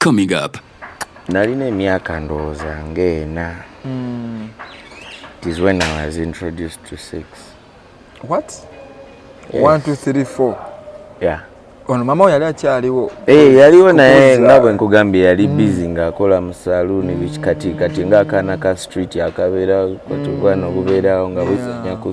Coming up. Nalina emyaka ndowooza ng'ena. Mm. It is when I was introduced to sex. What? Yes. One, two, three, four. Yeah. Ono mama yali akyaliwo. Eh, hey, yaliwo naye nga bwe nkugambye yali mm. busy ng'akola mu saloon mm. biki kati kati ng'akaana ka street akabeera kwatubwana mm. obubeerawo nga buzanya ku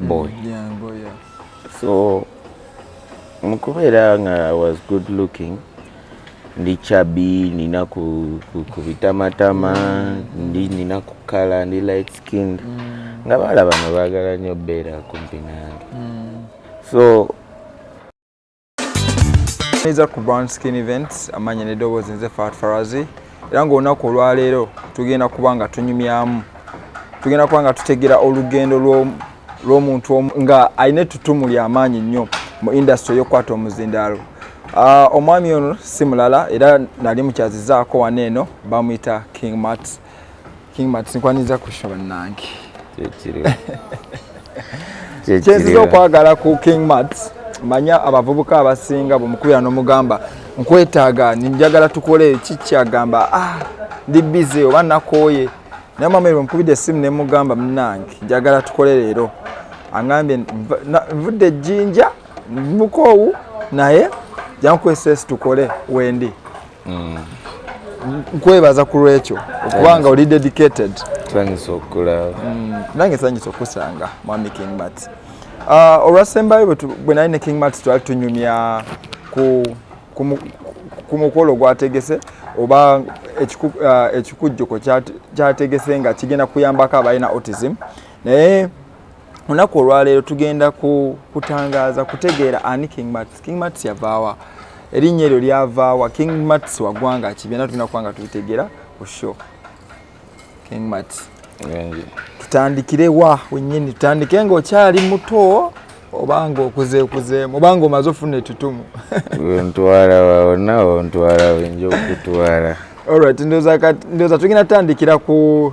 boy so mukubeera nga was good looking ndi chabi nina kubitamatama ndi nina kukala ndi light skinned mm. nga baala bano baagala nnyo beera kumpi nange mm. so neza ku brown skin events amanya n'eddoboozi nze fat farazi era ng'olunaku olwaleero tugenda kuba nga tunyumyamu tugenda kuba nga tutegera olugendo lw'omuntu omu nga alina ettutumu ly'amaanyi nnyo mu indasitry ey'okukwata omuzindaalo ah, omwami ono si mulala era nali mukyazizaako wano eno bamuyita king mats King Max nkwaniza kusho bannange kyenziza okwagala ku King Max manya abavubuka abasinga bwemukubira nomugamba nkwetaaga ninjagala tukole kikyagamba ah, ndi bize oba nakooye naye mama ebyo mukubidde essimu ne mugamba munange njagala tukole leero angambye nvudde ejjinja mukoowu naye jankukozesa esi tukole wendi mm. nkwebaza ku lwekyo okubanga oli dedicated sanyusa okulaba mm. nange sanyusa okusanga mwami king mat ah, olwasembayo bwe nali ne king mat twali tunyumya ku mukolo gwategese oba ah, ekikujjuko kyategese nga kigenda kuyambako abalina autism naye olunaku olwaleero tugenda kutangaaza kutegeera ani king mats king mats yavaawa erinnya eryo lyavaawa king mats wagwanga ki byona tulina kubanga tubitegeera ku show king mats tutandikire wa wenyini tutandike nga okyali muto obanga okuzeekuzeemu obanga omaze ofuna etutumu ontwala wawona ontwala wenja okutwala olright ndoza tugenda tutandikira ku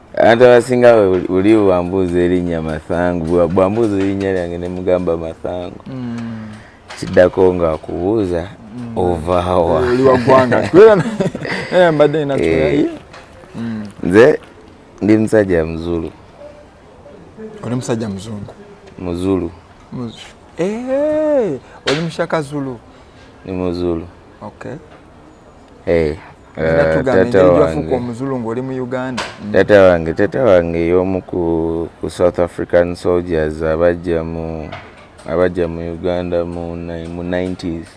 abantu abasinga uli bwambuuza erinnya mathangu bwambuuza erinnya lyange ne mugamba mathangu hmm. kiddako nga akubuuza hmm. ovaawa eh, eh. hmm. nze ndi musajja muzulu oli musajja muzungu muzulu eh, oli mushaka zulu ni muzulu okay. hey. Eh, taata wange taata wange y'omu ku south african soldiers abajja mu abajja mu uganda mu 90s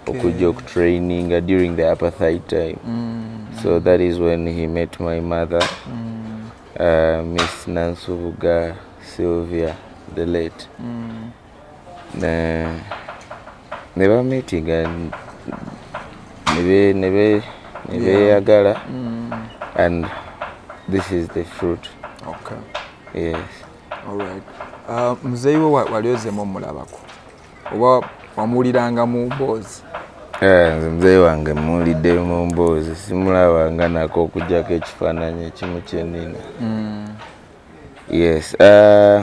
okujja okutraininga during the apartheid time mm. so that is when he met my mother mm. uh, miss nansubuga sylvia the late mm. ne bamitinga nebeyagala mm. and this is the fruit okay. yes. All right. uh, muzeeyi we wali ozemu omulabako oba wamuwuliranga mu mboozi eh, nze muzeeyi wange muwulidde mu mboozi simulabanga nako okujjako ekifaananyi ekimu kyenina mm. yes uh,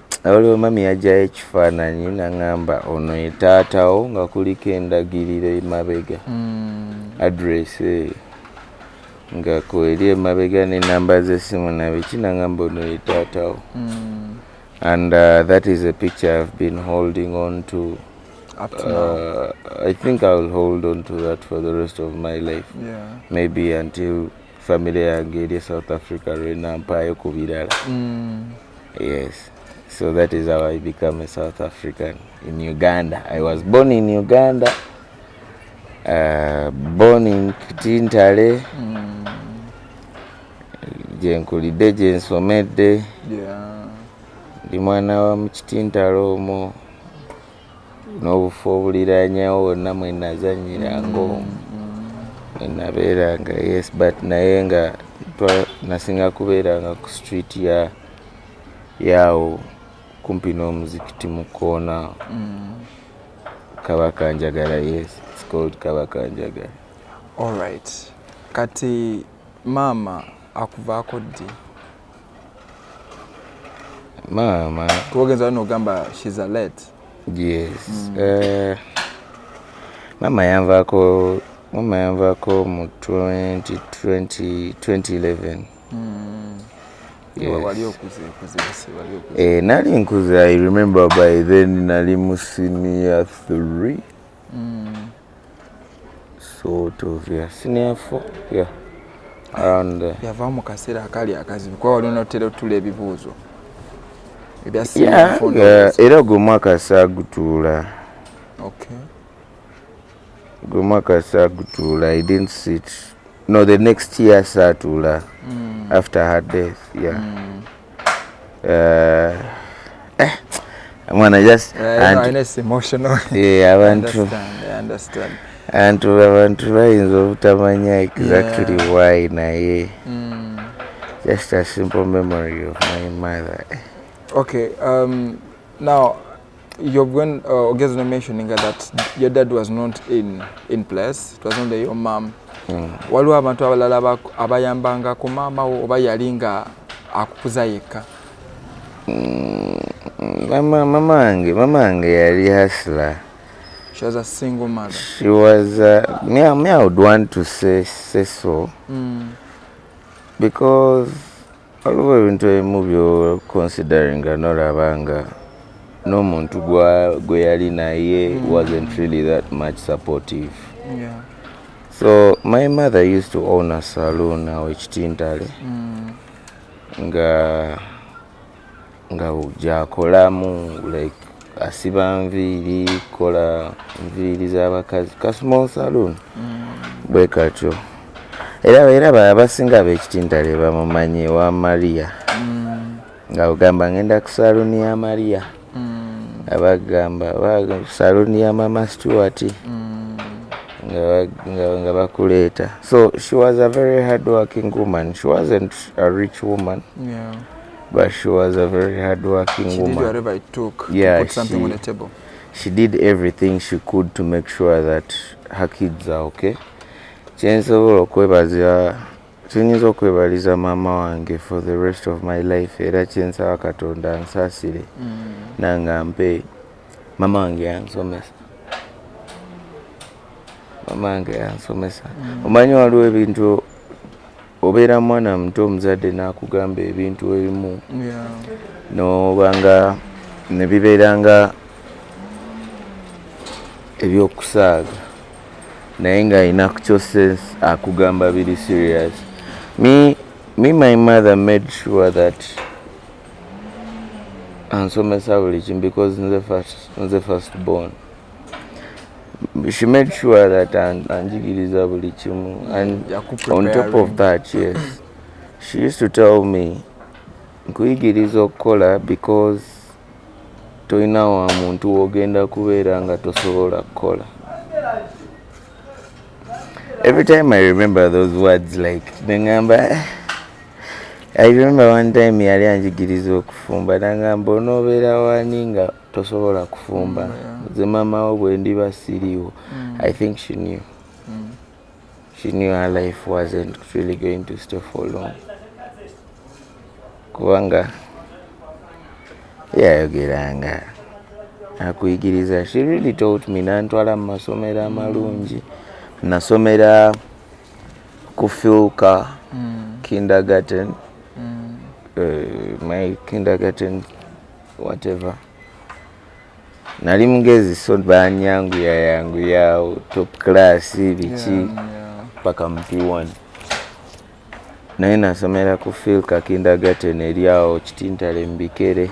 Waliwo mami yajjayo ekifaananyi naŋŋamba ono ye taatawo nga kuliko endagiriro emabega hmm. address eyo nga kweri emabega n'enamba z'essimu nabiki naŋŋamba ono ye taatawo hmm. and uh, that is a picture I've been holding on to up to now. Uh, I think I will hold on to that for the rest of my life. Yeah. Maybe until family yange eri e south africa lwenampaayo ku birala mm. yes so that is how i become a south african in uganda i was born in uganda uh, born in tintale mm. gyenkulidde gyensomedde ndi mwana wa mukitintale omwo n'obufo obuliranyawo wonna mwe nazannyira ng'omu mwe nabeeranga yes but naye nga nasinga kubeeranga ku street ya yaawo kumpi n'omuzikiti mu koona mm. kabaka njagala yes it's called kabaka njagala all right kati maama akuvaako ddi maama kubagenza wano ogamba shes a late yes mm. uh, eh, maama yanvaako maama yanvaako mu 2011 mm. eh, nali nkuze i remember by then nali mu senior 3 mm. sort of yeah senior four yeah around there yava mu kaseera akali akazibu kuba wali onotera otula ebibuuzo era gwe mwaka saagutuula gwe mwaka saagutuula i didn't sit no the next year saatuula mm. after her death yeah mm. eh, eh mwana just eh, abantu antu abantu bayinza obutamanya exactly yeah. why naye mm. just a simple memory of my mother okay um, now Your, when uh, Ogezo mentioning that your dad was not in, in place, it was only your mom. Mm. Waliwo abantu abalala abayambanga ku maama wo oba yali nga akukuza yekka? Mm, mama mama wange mama wange yali hasla. She was a single mother. She was uh, me, me I would want to say, say so. Mm. Because waliwo ebintu ebimu byo consideringa nolaba nga n'omuntu gwe yali naye mm. wasn't really that much supportive yeah. so my mother used to own a saloon awo ekitintale mm. nga nga gyakolamu like asiba nviiri kola nviiri z'abakazi ka small saloon mm. bwe katyo era era abasinga abekitintale bamumanyi wa maria mm. nga ogamba ngenda ku saloon ya maria mm. abagamba saloon ya mama stewart nga bakuleeta so she was a very hard working woman she wasn't a rich woman yeah. But she was a very hardworking she woman. She did whatever it took yeah, to put something she, on the table. She did everything she could to make sure that her kids are okay. kyensobola okwebaza kyenyinza okwebaliza maama wange for the rest of my life era kyensaba katonda nsaasire mm. nanga mpe maama wange yansomesa maama wange yansomesa mm. omanyi waliwo ebintu obeera mwana muto omuzadde n'akugamba ebintu ebimu nobanga ne bibeera nga ebyokusaaga naye nga alina kukyoses akugamba biri serious me, me my mother made sure that ansomesa buli kimu because nze first, nze first born she made sure that anjigiriza buli kimu and on top of that yes she used to tell me nkuyigiriza okukola because tolina wa muntu wogenda kubeera nga tosobola kukola every time i remember those words like nengamba eh, i remember one time yali anjigiriza okufumba nangamba onobeera wani nga tosobola kufumba mm, nze maama wo bwe ndiba siriiwo mm. i think she knew mm. she knew her life wasn't really going to stay for long kubanga yayogeranga akuyigiriza she really taught me nantwala mu masomero amalungi nasomera ku filka kindergarten uh, my kindergarten whatever nali mugezi so banyanguya yanguyawo top class biki paka yeah, yeah. mp1 naye nasomera ku fil kakindagaten eryawo kitintale mubikere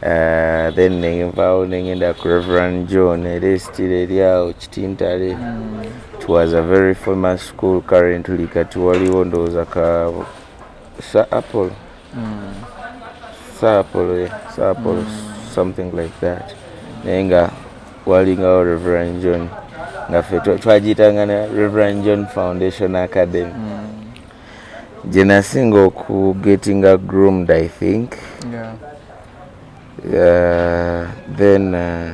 uh, then nenvawo nengenda ku reverand john era esitira eryawo kitintale mm. it was a very famous school currently kati waliwo ndowooza ka sa apple mm. saapolo eh, saapolo mm. something like that naye nga walingawo reverend john nga fe twagiyitanga ne reverend john foundation academy mm. gye nasinga okugetinga groomed i think yeah. uh, then uh,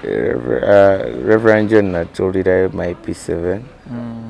uh, reverend john natulirayo my p7 mm.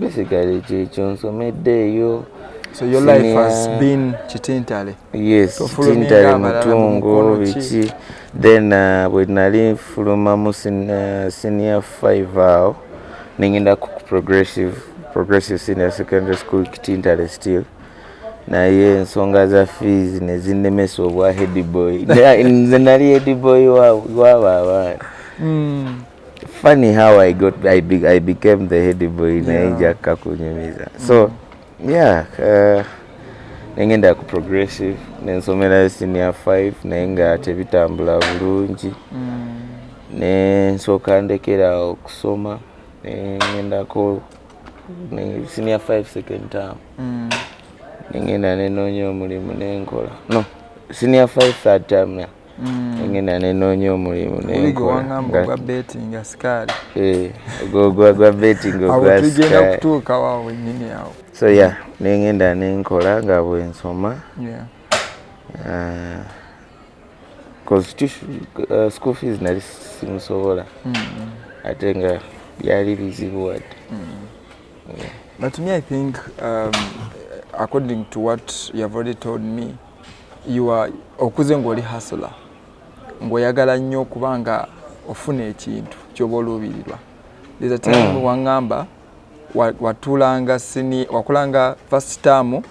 basically kyekyo nsomeddeeyo so your Senior. life has been kitintale yes kitintale mutungo biki then uh, bwe nali nfuluma mu uh, senior five awo nengenda ku progressive progressive senior secondary school kitintale still naye ensonga za fees nezinemesa obwa headboy nze nali headboy wabo abaana mm. funny how I got I, be, I became the head boy yeah. naye njakka kunyumiza so mm. yeah uh, nengenda ku progressive nensomerayo senior 5 naye nga tebitambula bulungi mm. nensooka ndekera okusoma nengendako senior 5 second term mm. nengenda nenoonya omulimu nenkola no senior 5 third term yeah. ngenda nenoonya omulimu nenkolagwa betinga sikaali gwa betinga ogwatugenda kutuukawo awo wenyini awo so ya yeah, nengenda nenkola nga bwensoma yeah. uh, constitution uh, school fees nali simusobola mm. ate nga byali bizibu wadde mm. yeah. but me i think um, according to what you have already told me okuze ng'oli hasula ng'oyagala nnyo okuba nga ofuna ekintu kyoba oluubirirwa eza taimu mm. waŋŋamba watulanga sini wakulanga first term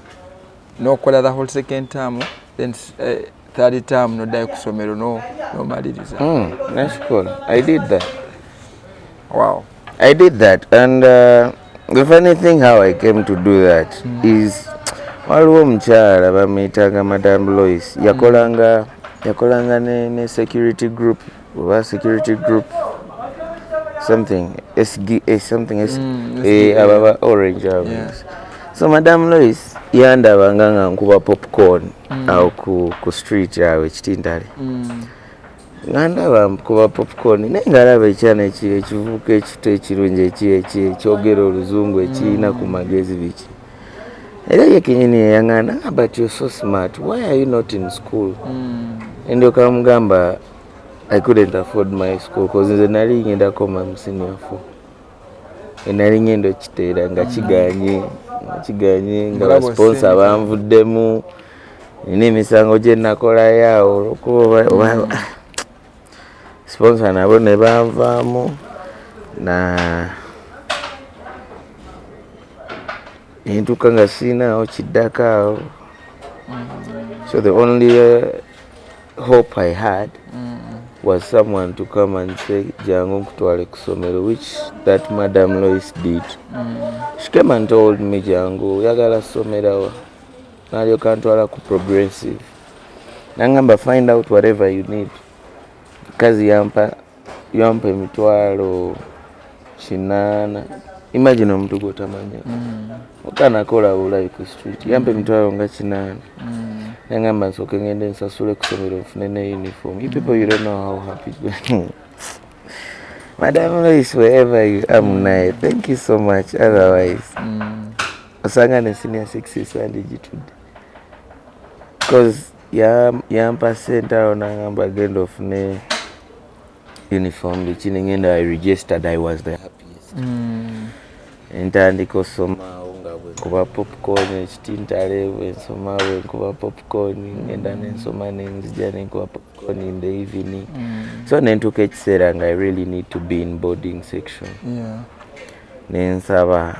n'okola the whole second term then uh, third term n'oddayo ku ssomero n'omaliriza mm, that's cool. i did that wow I did that and uh, the funny thing how I came to do that mm. is waliwo omukyala bamuyitanga madam Lois yakolanga yakolanga ne, ne security group oba security group something SGA eh, something SGA mm, eh, ababa orange ababa yeah. so madam Lois yandaba nga nga nkuba popcorn mm. awo ku, ku street awo ekitintale mm. nga ndaba kuba popcorn naye nga alaba ekyana ekivubuka ekito ekirungi ekyogera oluzungu ekirina ku magezi biki era ye kenyini yeyangana nga but you're so smart why are you not in school mm. ndyoka mugamba i couldn't afford my school bcause nze nali ngenda koma musiniafo enali ngenda okiteera nga kiganye nga kiganye nga basponsa banvuddemu mm. nina emisango gye nakolayo awo olwokuba oba mm. sponsor nabo ne banvaamu na nentuuka nga sirinaawo kiddako awo mm. so the only uh, hope i had mm. was someone to come and say jangu nkutwale ku somero which that madam lois did mm. she came and told me jangu oyagala somerawa nalyoka ntwala ku progressive nangamba find out whatever you need kazi yampa yampa emitwalo kinaana imagine omuntu gwotamanya mm. okanakola bulayi ku street yampa emitwalo nga kinaana mm. nangamba nsooke ngende nsasule kusomero nfune ne uniform you people you don't know how happy madam lois wherever you am naye thank you so much otherwise mm. osanga ne senior sixes wandigitudde bcause yampa sente awo nangamba genda ofune uniform biki nengenda i registered i was the happiest mm. entandika osomawo nga bwenkuba popcorn ekitintale bwensoma bwenkuba popcorn ngenda mm. nensoma nenzija nenkuba popcorn in the evening mm. so nentuuka ekiseera nga i really need to be in boarding section yeah. nensaba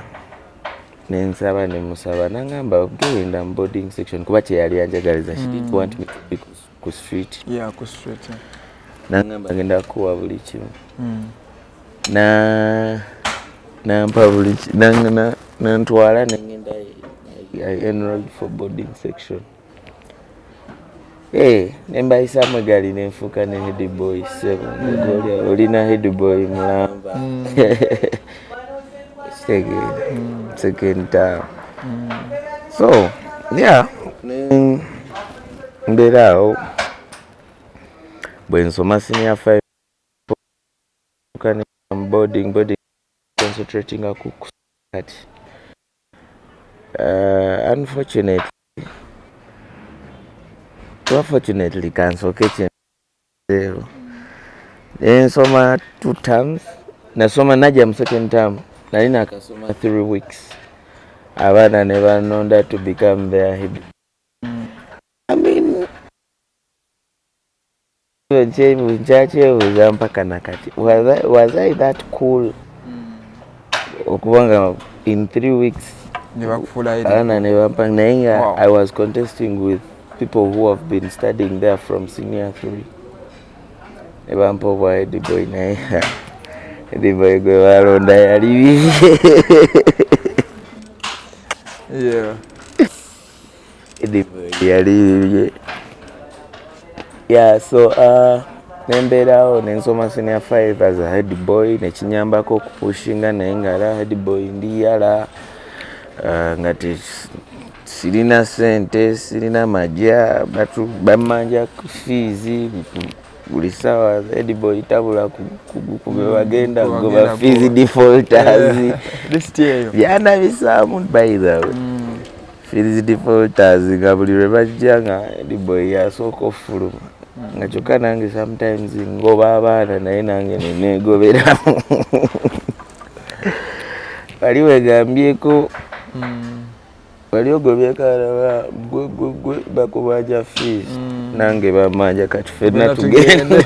nensaba nemusaba nangamba genda mu boarding section kuba kyeyali anjagaliza she didn't mm. want me to be ku street yeah, ku street nangamba ngenda kuwa buli kimu mm. na nampa buli nantwala nengenda i enrolled for boarding section Eh, ne mbayisa mwegali ne nfuuka ne head boy sebo mm. olina head boy mulamba mm. mm. second town so yeah mbeera awo bwe nsoma senior five boarding boarding concentrating ku kati uh, unfortunately Unfortunately, kanso kitchen zero. Then soma two terms. Na soma naja mu second term. Na nina akasoma three weeks. Abana ne banonda to become their hibbi. I mean, kyebuuza mpaka nakati was i that cool okuba nga in three weeks ana nebampa naye nga i was contesting with people who have been studying there from senior three nebampa obwa ediboy naye ediboy gwe balonda yali bibi yeah. yali ya so uh, nembeerawo nensoma senior 5 as a head boy nekinyambako okupushinga naye ngaala head boy ndi yala uh, nga sirina sente sirina maja bamanja fiizi buli sawa ediboy tabula kugukuba mm, bagenda goba fees defaulters byana bisamu by the way mm. fees defaulters nga buli lwe bajja nga ediboy yasooka ofuluma mm. nga kyokka nange sometimes ngoba abaana naye nange nenegoberamu wali wegambyeko wali ogobyekalaba gwe gwe gwe bakubaja fees mm. nange bamaja kati fenna tugenda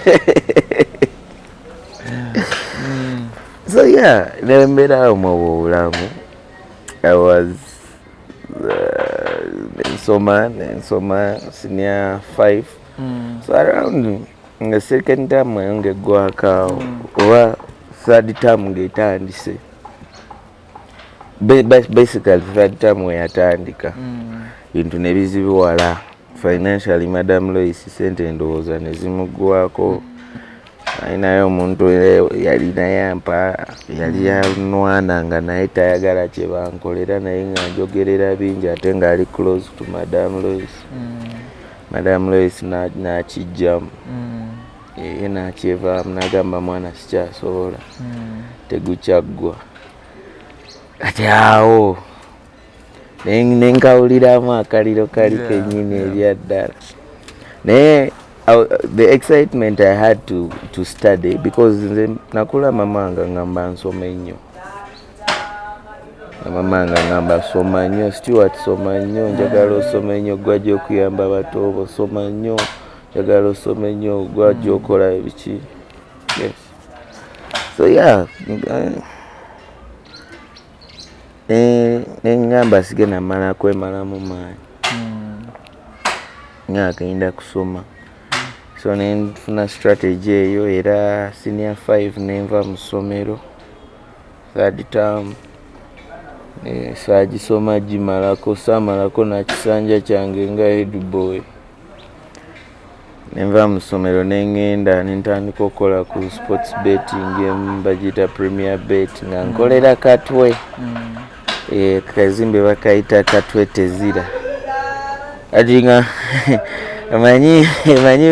mm. so yeah nembeera awo mwoba obulamu i was uh, nsoma nensoma senior five mm. so around nga second term eyo ngaeggwakaawo mm. oba third term ngaetandise basically fadtamu weyatandika mm. bintu mm. nebizibiwala financially madam lois sente endowooza nezimugwako alinayo omuntu yalina yampa yali yanwana nga naye tayagala kyebankolera naye nga njogerera bingi ate ngaali close to madam lois mm. madam lois nakijjamu mm. ye nakyevaamu nagamba mwana sikyasobola hmm. tegukyaggwa kati awo nenkawuliramu akaliro kali kenyini ebyaddala naye the excitement i had to, to study because nze nakula mamanga ngamba nsoma ennyo amamanga ngamba soma nnyo stewart soma nnyo njagala osoma ennyo gwajja okuyamba abatoobo soma nnyo njagala osome nnyo gwajja okola ebiki yes so yeah nengamba sige namala kwemalamu maanyi hmm. nga agenda kusoma so nenfuna strategy eyo era senior 5 nenva mu ssomero third term saagisoma gimalako saamalako nakisanja kyange nga headboy nenva mu ssomero ne ŋŋenda ne ntandika okukola ku sports betting emu bagiyita premier bet nga mm. nkolera katwe mm. eh, kazimbe bakayita katwe tezira kati nga omanyi omanyi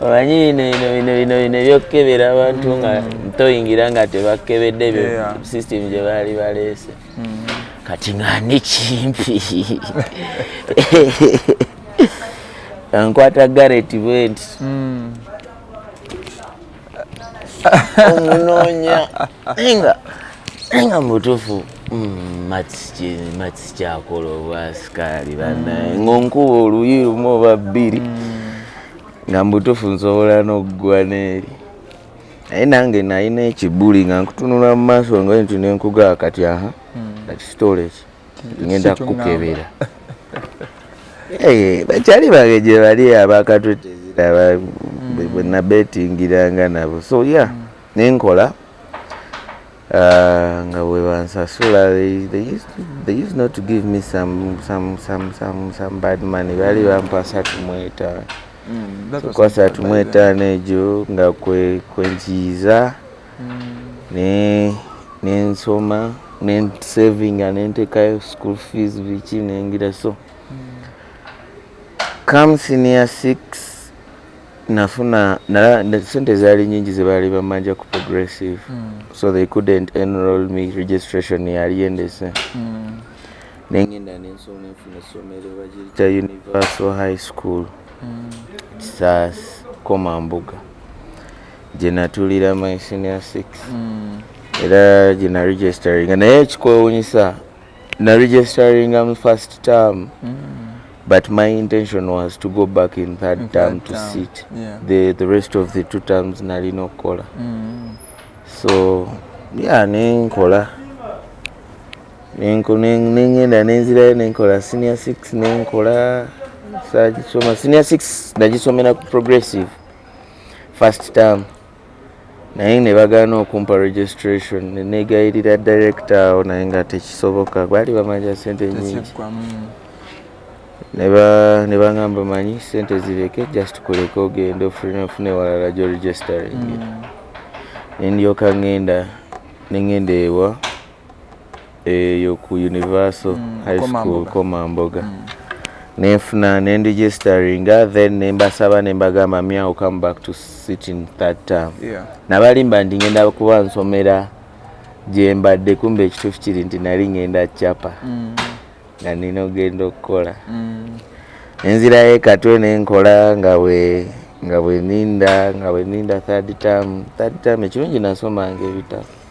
omanyi bino bino bino bino bino ebyokukebera abantu nga mm. toyingira nga tebakebedde ebyo system gye baali baleese mm. kati nga nekimpi ankwata garet bwenti mm. omunonya nga nga mutufu mm, mats kyakola obwasikaali banaye mm. ngonkuba oluyi lumu oba bbiri nga mutufu nsobola noggwa neeri naye nange nalina ekibuli nga nkutunula mu maaso nga nti nenkugaa kati aha kati hmm. sitoola eki ngenda kukukebera bakyali bange gye bali abakatwetezera hmm. bwenabetingiranga nabo so ya hmm. nenkola Uh, nga bwe bansasula bad money baali bampa asatu mu etaano mm, ku asatu mu etaano egyo nga kwenkiyiza mm. nensoma nensavinga nentekayo school fees biki nengira so mm. come senior six nafuna nala sente zaali nyingi zebaali bamanja ku progressive mm. so they couldn't enroll me registration yali endese mm. nengenda nensoma nenfuna essomero bagiyita universal high school mm. kisas koma mbuga gyenatulira my senior six mm. era gyena registeringa naye ekikwewunyisa na registeringa mu first term mm. but my intention was to go back in third in term to term. sit yeah. the, the rest of the two terms nalina okukola mm. so yeah nenkola nengenda nenzirayo nenkola senior six nenkola sagisoma senior six nagisomera ku progressive first term naye ne bagaana okumpa registration ne neegayirira director awo naye nga tekisoboka baali bamanja sente nyingi ne bangamba manyi sente zireke just kuleka ogende ofune walala gyo registering mm. ne ndyoka ngenda ne ngenda ewa eyo ku universal mm, high school komamboga mm. nenfuna nendigisteringa then nembasaba nembagamba me ill come back to sit in third term yeah. nabalimba nti ngenda kuba nsomera gyembadde kumba ekituufu kiri nti nali ngenda capa mm. nga nina ogenda okukola mm. nenzirayo ekatwe nenkola nga bwe nga bweninda nga bweninda third term third term ekirungi nasomanga ebitabo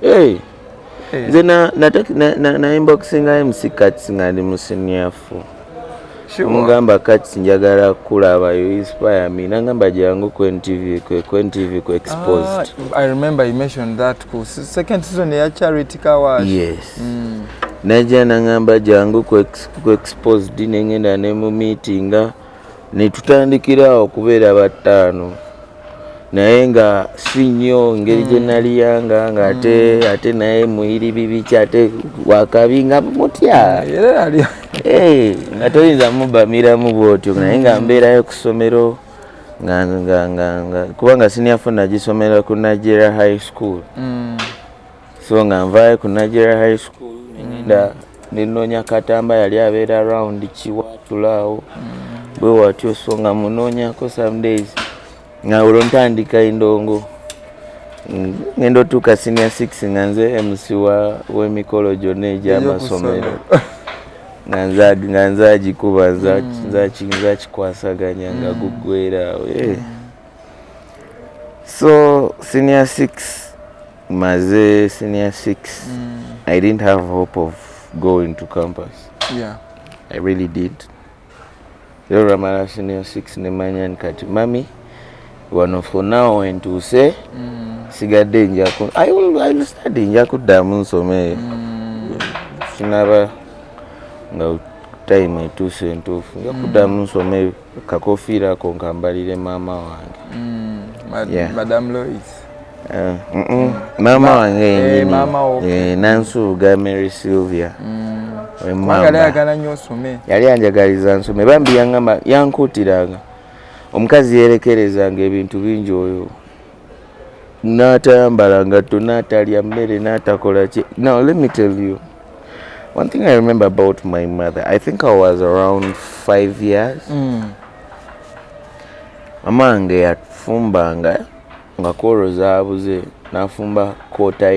hey. hey. nze nainboxinga mc cats nga ndi musiniafu mugamba kati njagala kulaba you inspire me nangamba jangu ku ntv kwe ku ntv ku exposed ah, i remember you mentioned that ku second season ya charity kawash yes mm. najja nangamba jangu ku exposed nengenda ne mu meetinga ne tutandikira awo okubeera battaano naye nga si nnyo ngeri gye mm. naliyanga nga ate mm. ate naye muyiri bibiki ate wakabi nga mutya eh, nga toyinza mubamiramu bwotyo naye nga mm. mbeerayo ku ssomero kubanga siniafo nagisomera ku nigeria high school so nga nvaayo ku nigeria high school nenda nenoonya katamba yali abeera around kiwatulaawo bwe watyo so nga munoonyako some days nga olwo ntandika endongo ngenda otuuka senior 6 nga nze mc w'emikolo gyonna egy'amasomero nga nzagikuba nzakikwasaganya mm. nga mm. guggweraawo eh. mm. so senior 6 maze senior six mm. i didn't have hope of going to campus yeah. i really did era olwamala senior six nemanya ni kati mami wano for now wentuuse mm. sigadde njaku ill study nja kuddamu nsome mm. sinaba nga time etuuse entuufu nja kuddamu mm. nsome kakofiira ako nkambalire maama wange mm, madam lois eh, maama wange yenyeninansuuga eh, eh, mary sylvia mm. yali anjagaliza nsome bambi yankuutiranga omukazi yerekerezanga ebintu bingi oyo n'atayambala ngatto n'atalya mmere n'atakola ki now let me tell you one thing i remember about my mother i think i was around five years mm. mama wange yafumbanga nga kwolwo zaabuze n'afumba koota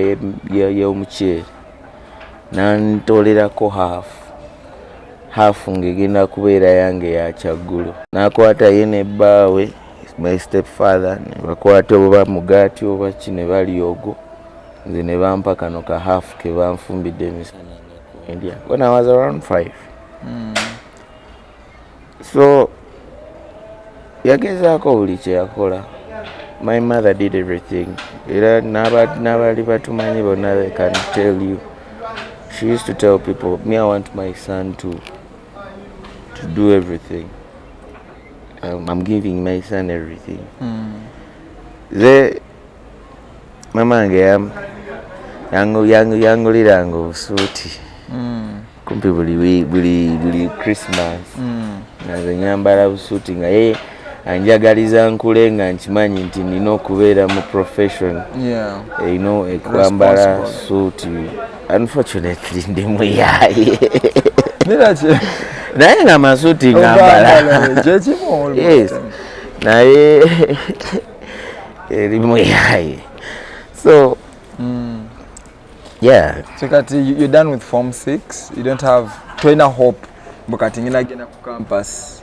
y'omuceere n'antolerako haafu haafu ng'egenda kubeera yange yakyaggulo n'akwata ye ne bbaawe my step father nebakwata oba mugati oba ki ne bali ogwo nze ne bampa kano ka half ke banfumbidde emisana india when i was around five mm. so yagezaako buli kyeyakola my mother did everything era n'abali batumanyi bonna they can tell you she used to tell people me i want my son to, to do everything Um, I'm giving my son everything. Mm. Ze mama wange yam yangu yangu yangu lirango suti. Mm. Kumpi buli we buli buli Christmas. Mm. Na ze nyambara usuti nga yeye anjagaliza nkule nga nkimanyi nti nina okubeera mu profession yeah. you know ekwambala suti Unfortunately ndi muyaye. Nilaki. Naye nga masuti ngambala. Kyekimu. Yes. Naye eri muyaye. So mm. Yeah. So kati you're done with form 6. You don't have trainer hope. Bukati ngina gena ku campus.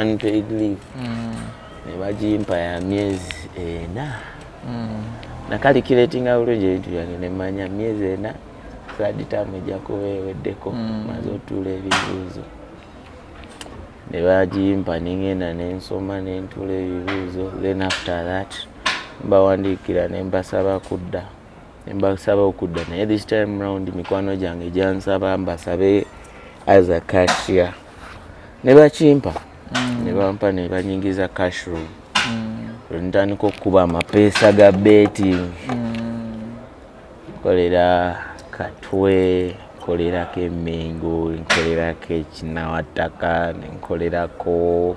unpaid leave mm. ne bagimpa ya myezi ena mm. nakalikiretinga bulungi ebintu byange nemanya myezi ena saditamu ejja kuba eweddeko mm. maze otuula ebibuuzo ne bagimpa nengenda nensoma nentuula ebibuuzo then after that mbawandiikira nembasaba kudda mbasaba okudda naye this time round mikwano gyange gyansaba mbasabe aza cashiya ne bakimpa mm. ne bampa ne banyingiza cash room mm. ntandika okukuba amapeesa ga betting mm. kolera katwe nkolerako emengo nkolerako ekinawattaka nenkolerako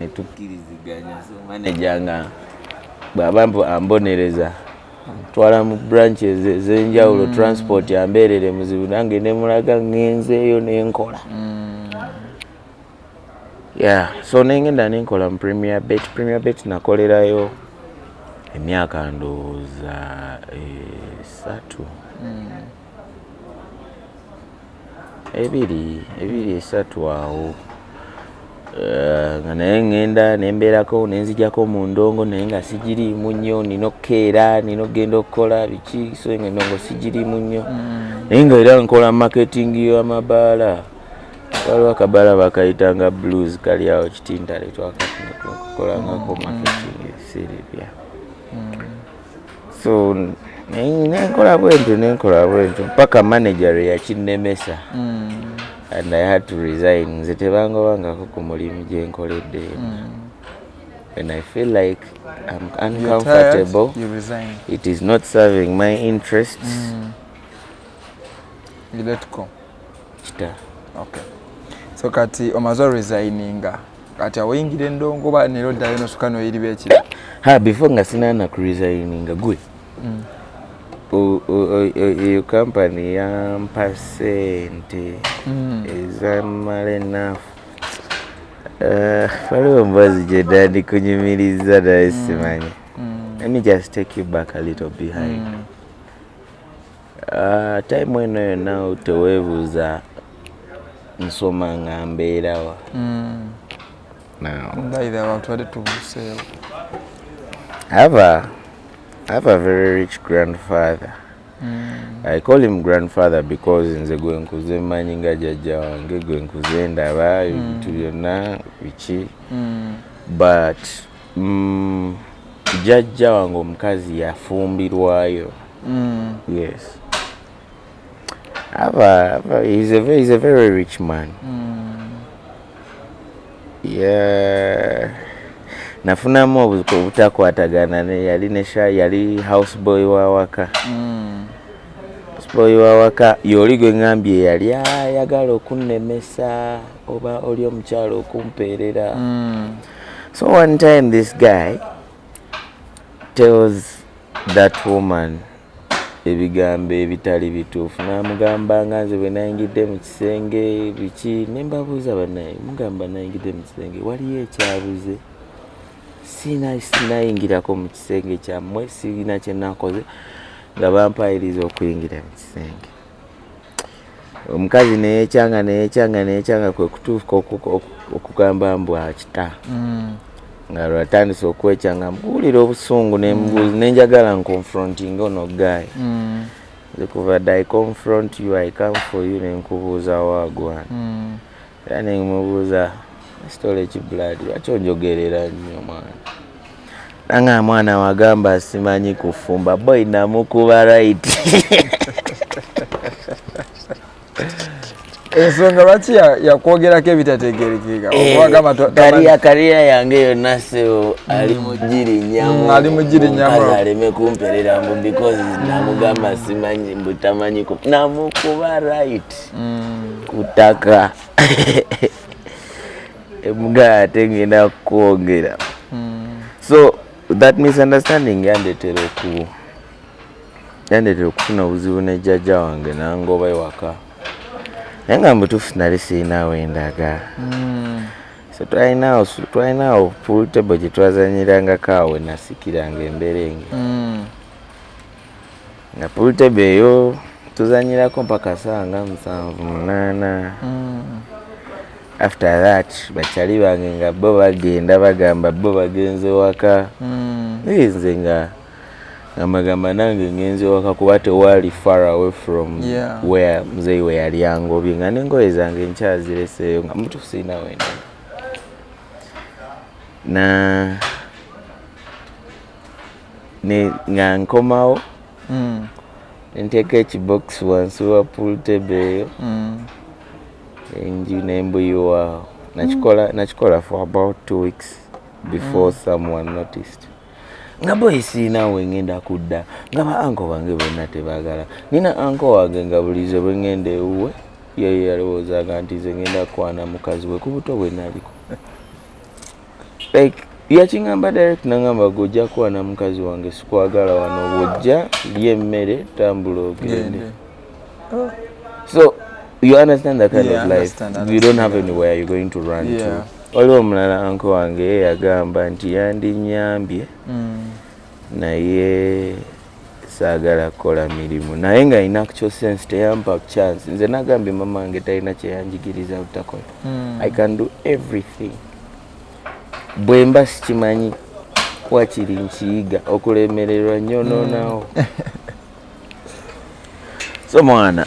ne tukkiriziganya so maneja nga bw'aba ambonereza twala mu branches ez'enjawulo mm. transport ambeerere muzibu nange ne mulaga ngenzeeyo ne nkola mm. ya so nengenda ne nkola mu premier bet premier bet nakolerayo emyaka ndowooza esatu mm. ebiri ebiri esatu awo eh, nga naye ŋŋenda nembeerako nenzijako mu ndongo naye nga sigiriimu nnyo nina okukeera nina okugenda okukola biki so nga endongo sigiriimu nnyo mm. naye nga era nkola marketing yamabaala waliwo akabaala bakayitanga blues kali awo kitintale twakakolangako mm. marketing siribya mm. so nenkola bwentyo nenkola bwentyo paka manager eyakinemesa mm. and i had to resign nze tebangobangako ku mulimu gyenkoledde mm. when i feel like i'm uncomfortable you resign. it is not serving my interest mm. you let go kita okay so kati omaze resigninga kati awoyingira endongo ba nero ddayo nosuka noyiri beki ha before nga sinana ku resigninga gwe mm. eyo kampani yampa sente mm. ezamala enafu eh, waliwo mbazi gyedandi kunyumiriza naye mm. simanya let me just take you back a little behind mm. Uh, time eno yonna teweebuuza nsoma nga mbeerawa mm. mbaire abantu bade tubuseewo have a, have a very rich grandfather Mm. I call him grandfather because nze gwe nkuze manyi nga jajja wange gwe nkuze ndaba mm. ebintu mm. byonna biki mm. but Mm, jajja wange omukazi yafumbirwayo. Mm. Yes. Ava, ava, he's a very, he's a very rich man. Mm. Yeah. Nafunamu obutakwatagana ne yali ne sha yali house boy wa waka. Mm. House boy wa waka yoli gwe ngambye yali ayagala okunnemesa oba oli omukyalo okumpeerera. Mm. So one time this guy tells that woman ebigambo ebitali bituufu namugamba nga nze bwe nayingidde mu kisenge biki ne mbabuuza banaye mugamba nayingidde mu kisenge waliyo ekyabuze siina sinayingirako mu kisenge kyammwe sirina kyenakoze nga bampayiriza okuyingira mu kisenge omukazi neyekyanga neyekyanga neyekyanga kwekutuuka okugamba mbu akita mm. nga lwatandise okwekyanga mbuwulira obusungu mm. nenjagala nconfronting ono guy mm. nze kuva di confront you i come for you nenkubuuza wagwan Era ne mubuuza sitole ki blood lwaki onjogerera nnyo mwana nanga mwana wagamba simanyi kufumba boy namukuba right ensonga lwaki yakwogerako ebitategerekeka eh, kariya yange yonna seo ali mm. mugirinyamali mm, mugirinyamukaz aleme kumperera mbu because namugamba simanyi mbutamanyi namukuba right mm. ku ttaka emugala ate ngenda kukwongera mm. so that misunderstanding yandetera oku yandetera okufuna obuzibu ne jjajja wange nangoba ewaka naye nga mubutuufu nali sirinawo endaga mm. so twalinawo twalinawo pool table gyetwazanyirangako awo nasikiranga emberenge nga pulutebe eyo tuzanyirako mpaka saa nga musanvu munaana mm. after that bakyali bange nga bo bagenda bagamba bo bagenze waka mm. naye nze nga amagamba nange ngenze waka kuba tewali far away from yeah. where mzeyi we yali angobye nga nengoye zange nkyazireseeyo nga mutufu sirina wenda na ne nga nkomawo mm. nteeka ekibox wansi wa pool table eyo mm. enju nembuyiwaawo nakikola mm. nakikola for about two weeks before mm. someone noticed nga boyi siina we ngenda kudda nga ba anko bange bonna tebagala nina anko wange nga bulize bwe ngenda ewuwe yeyo yalowoozaga nti ze ngenda kukwana mukazi we ku buto bwe naliko like yakingamba direct nangamba gwe ojja kwana mukazi wange sikwagala wano bwojja lya emmere tambula ogende oh. so you understand that kind yeah, of life understand, you don't have anywhere you're going to run yeah. to waliwo omulala anko wange yagamba nti yandinyambye mm. naye saagala kukola mirimu naye nga ina actual sense teyampa chance nze nagambye mama wange talina kyeyanjigiriza butakola mm. i can do everything bwemba sikimanyi wakiri nkiyiga okulemererwa nyo nonawo mm. so mwana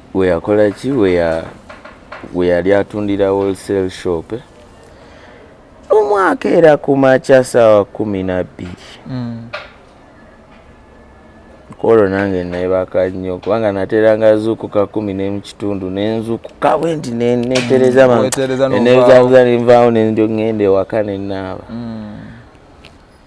weyakola ki weyali atundira wholesale shop eh? omwaka era ku makya saawa kumi nabbiri mm. kwolwo nange nebaka nnyo kubanga nateranga zukuka kumi nemukitundu nenzukuka bwe nti netereza mm, nezabuza nenvaawo nenjo ngenda ewaka nenaaba mm.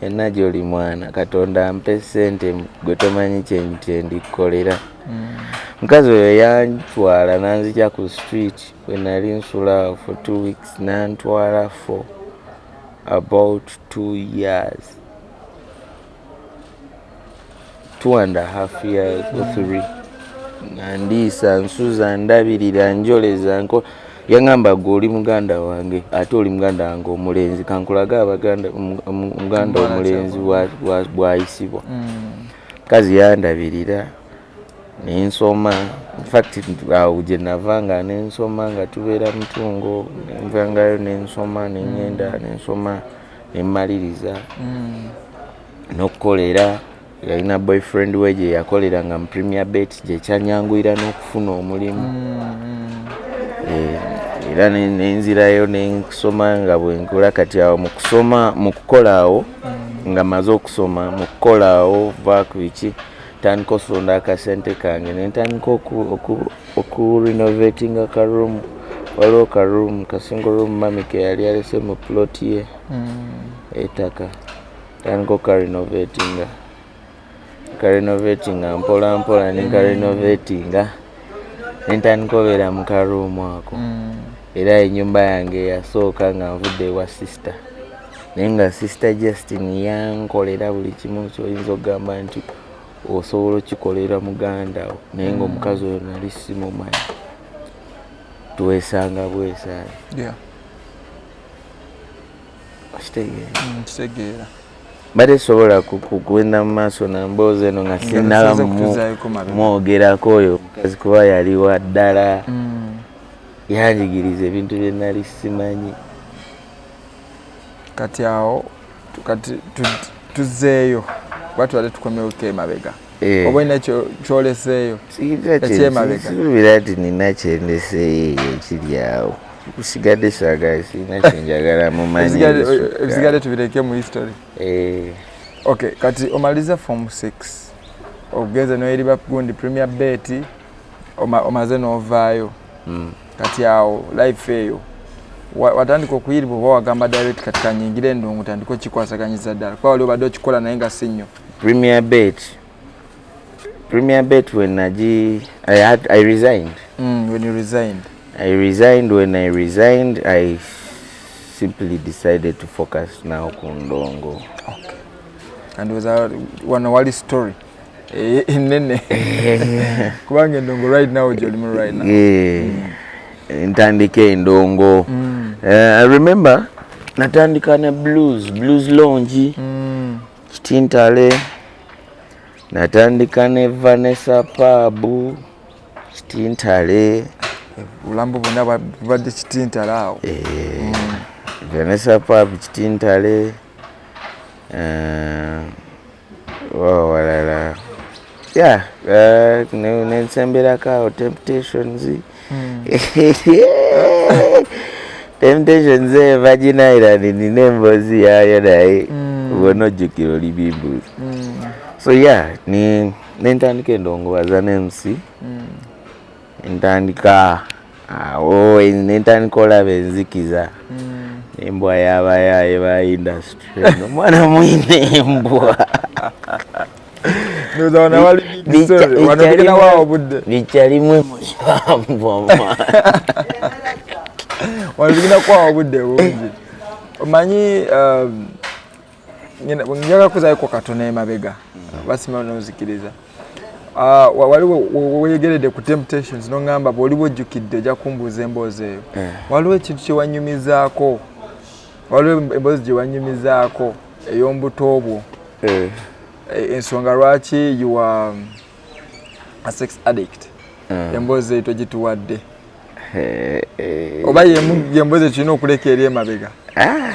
enna gyoli mwana katonda ampe sente gwe tomanyi kyendikkolera mm. mukazi oyo yantwala nanzija ku street wenali nsula for two weeks nantwala for about two years two and a half years or mm. three nga ndiisa nsuza ndabirira njoleza nko yangamba gwe oli muganda wange ate oli muganda wange omulenzi kankulage abaganda muganda omulenzi bwayisibwa mm. kazi yandabirira nensoma infact awo gyenava nga nensoma nga tubeera mutungo nenvangayo nensoma nengenda nensoma nemmaliriza mm. n'okukolera yalina boyfriend we gye yakolera nga mu premier bet gyekyanyanguyira n'okufuna omulimu mm-hmm. eh, era nenzirayo nenkusoma nga bwenkola kati awo mukusoma mukukola awo mm-hmm. nga maze okusoma mukukola awo vaku biki tandika osonda akasente kange nentandika okurenovatinga karoom waliwo karoom kasingle room mami keyali alese mu plot ye mm-hmm. etaka Tandika okarinovetinga karinovetinga mpola mpola nenkarinovetinga nentandika obeera mu karuumu ako mm. era enyumba yange yasooka nga nvudde ewa sisita naye nga sisita justin yankolera buli kimu kyoyinza okugamba nti osobola okikolera muganda wo naye nga omukazi oyo nali simumanyi twesanga bwesaani yeah. kitegeera mbadde sobola kugenda mu maaso na mboozi eno nga sinaba mwogerako oyo omukazi kuba yali wa ddala mm. yanjigiriza ebintu bye nali simanyi kati awo kati tuzeeyo kuba tubadde tukomewo kemabega Eh. oba olina kyoleseeyo ekyemabegakirubira nti nina kyendeseeyo eyo ekiri awo kusigadde saagala sirina kyenjagala mumanyiebisigadde tubireke mu history eh. ok kati omaliza form six ogenze noeri bakundi premier bet omaze novaayo hmm. kati awo life eyo watandika okuyiribwa oba wagamba direct kati kanyingire endungu tandika okikwasaganyiza ddala kuba wali obadde okikola naye nga si nnyo Premier Bet. Premier Bet when Naji, I had, I resigned. Mm, when you resigned. I resigned. When I resigned, I simply decided to focus now Kundongo. Okay. And was our one wali story. Eh, Nene. Kubanga Ndongo right now, Jolimu right now. Yeah. Mm. Ntandike Ndongo. Mm. Uh, I remember natandika ne blues blues lounge mm. kitintale natandika ne vanessa paabu kitintale obulambo bwonna bubadde kitintale awo eh, mm. vanessa paabu kitintale eh, wawalala yeah uh, nensemberako temptations hmm. temptations e vagina island nina embozi yayo naye hmm. bona ojjukira oli bibuli hmm. so yeah ni nentandika endongowaza nemusi entandika awo nentandika olaba enzikiza hmm. embwa yabayaye ba industry omwana mwine embwa bikyalimu emulibanvu omwana wano tugenda kuwawa obudde bungi omanyi um, njaga kuzayoko katono emabega basima nozikiriza ah, wali weyegeredde ku temptations nongamba bwoli bwojjukidde ojja kumbuuza emboozi eyo eh. waliwo ekintu kyewanyumizaako waliwo emboozi gyewanyumizaako ey'ombuto bwo eh. Eh, ensonga lwaki you are um, a sex addict eh. emboozi eyo togituwadde oba yemboozi ekirina okuleka eri emabega ah.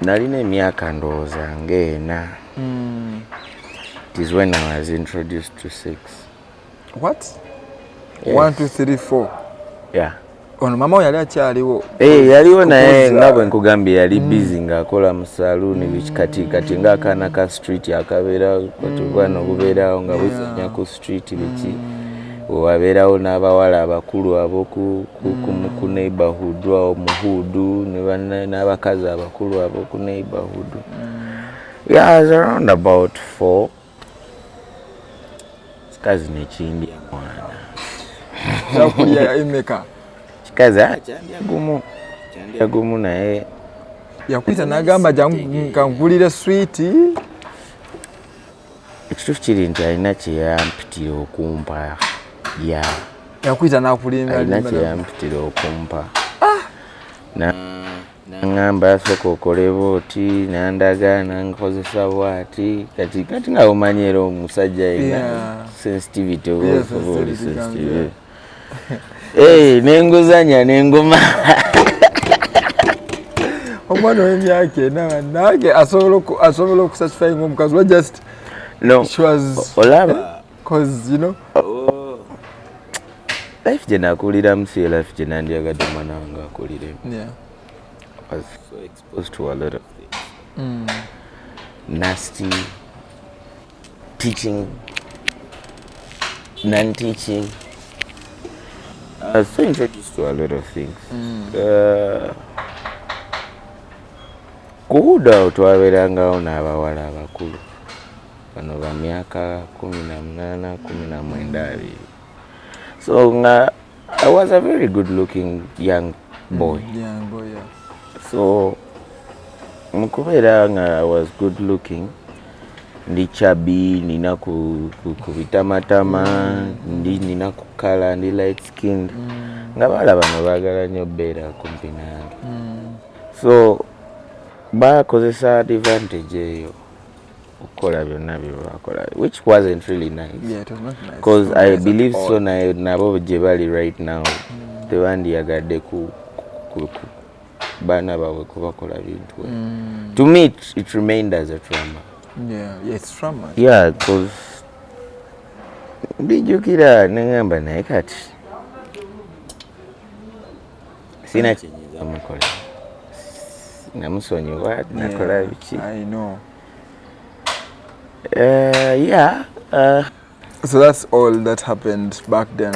nalina emyaka ndowooza ng'ena mm. it is when i was introduced to sex what yes. one two three four yeah ono mama we yali akyaliwo hey, eh, yaliwo naye nga bwe nkugambye yali mm. busy ng'akola mu saluuni mm. biki kati kati ng'akaana ka street akabeerawo katubwana obubeerawo nga buzanya ku street biki mm. wewabeerawo n'abawala abakulu aboku ku neighborhood awo muhuudu n'abakazi abakulu aboku neighborhood mm. yeah, as around about four kikazi nekindya mwana kyakulya emeka kikazi ah, kyandya gumu kyandya gumu naye yakuyita nagamba kankugulire switi ekituufu kiri nti alina kyeyampitira okumpa ya yakuyita nakulimba alina kyeyampitira okumpa ah! nangamba asooka okoleba oti nandaga nankozesa bwati kati kati nga omanyi era omusajja yena sensitivity oba oli sensitive Hey, nenguzanya nenguma omwana wemyaka ena nange asobola okusasifyinga omukazi wa just no olaba cause you know oh. life gye nakuliramu si life gye nandyagadde omwana wange akuliremu yeah. was so exposed to a lot of things mm. nasty teaching non teaching I was so introduced to a lot of things mm. uh, kuhuda awo twabeerangawo n'abawala abakulu bano ba myaka kumi na munaana kumi na mwenda abiri so nga I was a very good looking young boy. Mm, young boy, yeah. So mukubeera nga I was good looking ndi chabi nina ku, ku, ku bitamatama mm. ndi nina kukala ndi light skinned mm. nga baala bano baagala nnyo beera kumpi nange mm. so bakozesa advantage eyo okukola byonna byebakola which wasn't really nice because yeah, nice. i believe so naye nabo gye bali right now mm. tebandiyagadde ku, ku, ku baana baabwe kubakola bintu mm. to me it, it remained as a trauma yeah, yeah, it's trauma. yeah because ndijukira nengamba naye kati sina kyenyiza mukola namusonyiwa nakola biki yeah, Uh, yeah. Uh, so that's all that happened back then.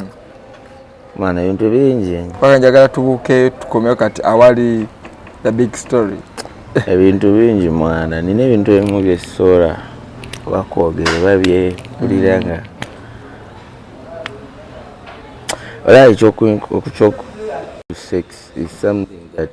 Mwana ebintu bingi. Paka njagala tubuke tukomeo kati awali the big story. Ebintu bingi mwana, nina ebintu ebimu bye sora bakwogera oba bye kulira nga. Ola ekyo ku sex is something that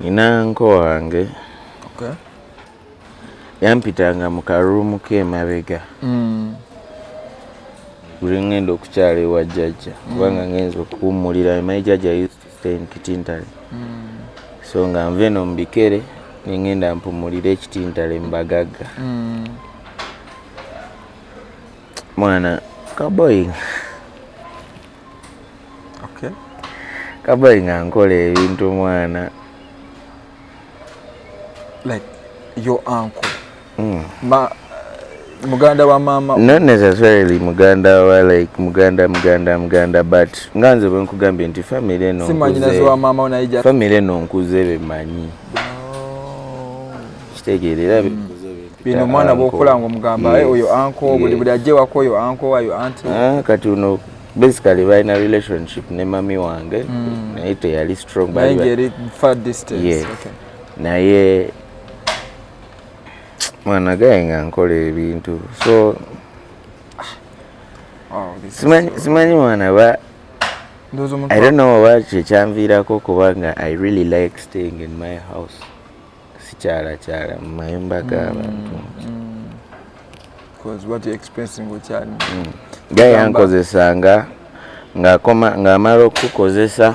nina nko wange okay. yampitanga mu karuumu k'emabega mm. buli ngenda okukyala ewa jjajja mm. kubanga ngenza okuwummulira my jjajja used to stay in kitintale mm. so nga nva eno mu bikere nengenda mpumulire ekitintale mu bagagga mm. mwana kaboyinga okay. kabai nga nkola ebintu mwana like your uncle mm. ma muganda wa mama not necessarily muganda wa like muganda muganda muganda but nga nze bwe nkugambye nti family eno family eno nkuze bemanyi kitegeera era mm. bino omwana bwokola nga omugamba eh, oyo anko buli buli ajje wako oyo anko ayo anti ah, kati uno basically balina relationship ne mami wange mm. naye teyali strong naye mwana gaye nga nkola ebintu so oh, simanyi mwana ba i don't know oba kyekyanviirako kubanga i really like staying in my house sikyalakyala mu mayumba g'abantu nga yankozesanga ng'amala okukukozesa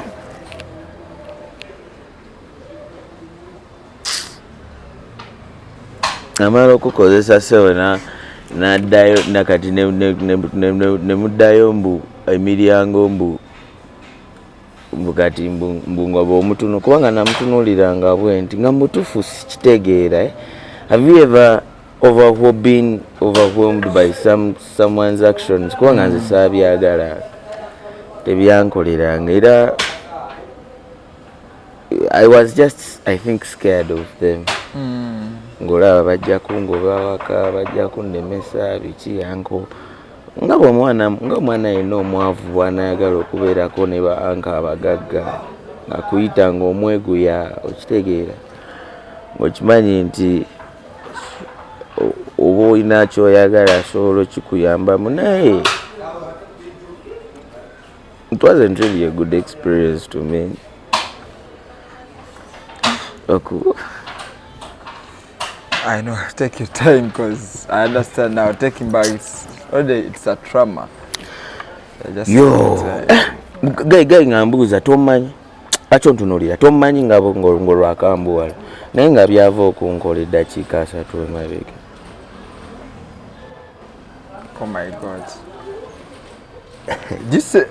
amala okukozesa sewona naddayo nakati nemuddayo mbu emiryango mbu mbugati mbungoba omutunu kubanga namutunulira nga bwenti nga mutufu sikitegeera eh? have you ever over being overwhelmed by some someone's actions kubanga nze saabyagala tebyankoleranga era i was just i think scared of them mm. ngolaba bajja kungoba waka bajja kunnemesa biki yanko nga bwomwana nga omwana yenna omwavu bwanayagala okubeerako ne ba anka abagagga akuyita nga omweguya okitegeera ngaokimanyi nti oba olina kyoyagala asobola okikuyambamu naye it wasn't really a good experience to me okuba I know, take your time because I understand now. Taking back, it's already it's a trauma. Yo, guy guy ngambuza tomanyi acho ntunulira tomanyi nga ngo lwakambuwala naye nga byava okunkola eddakiika asatu emabega. Oh my God. just, uh,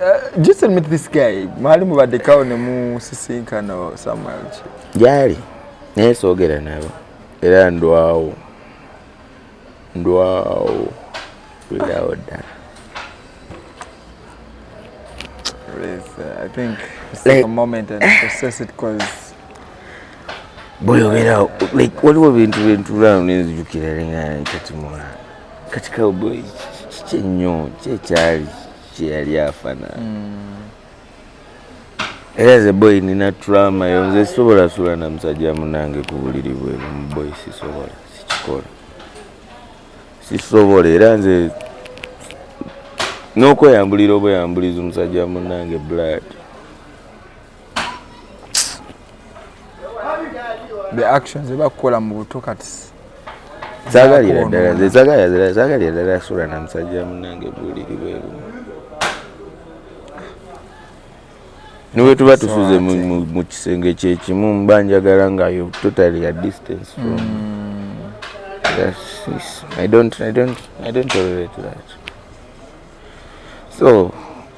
just admit this guy mwali mubadekawo ne musisinkana somewhere gyali naye soogera nabo era ndwawo ndwawo kulirawo ddala bweyogerawo waliwo bintu bentulano nenzijukira lenga ntatimulaa kati cowboy kiki ennyo kyekyali kyeyali afana hmm. era ze boy nina trama yo nze sisobola sula na musajja munange ku buliri bweru muboy sisobola sikikola sisobola era nze n'okweyambulira obweyambuliza omusajja munange blood the actions ebakukola mu buto kati zagalira ddala zezagalira zagalira ddala sula na musajja munange buliri bwebu niwe tuba tusuze mu kisenge kyekimu mba njagala nga yo totally a distance from mm. that's this. i don't i don't i don't tolerate that so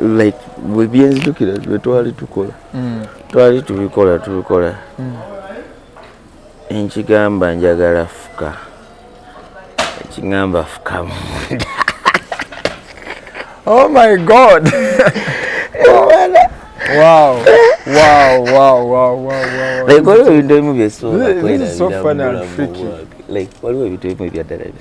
like byenzijukira bwetwali tukola mm. twali tubikola tubikola mm. enkigamba njagala fuka ekigamba fuka munda oh my god wow wow wow wow wow like waliwo ebintu ebimu byesobola kweraira like waliwo ebintu ebimu ebyaddala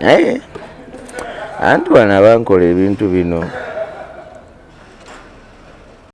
naye eh, anti wano abankola ebintu bino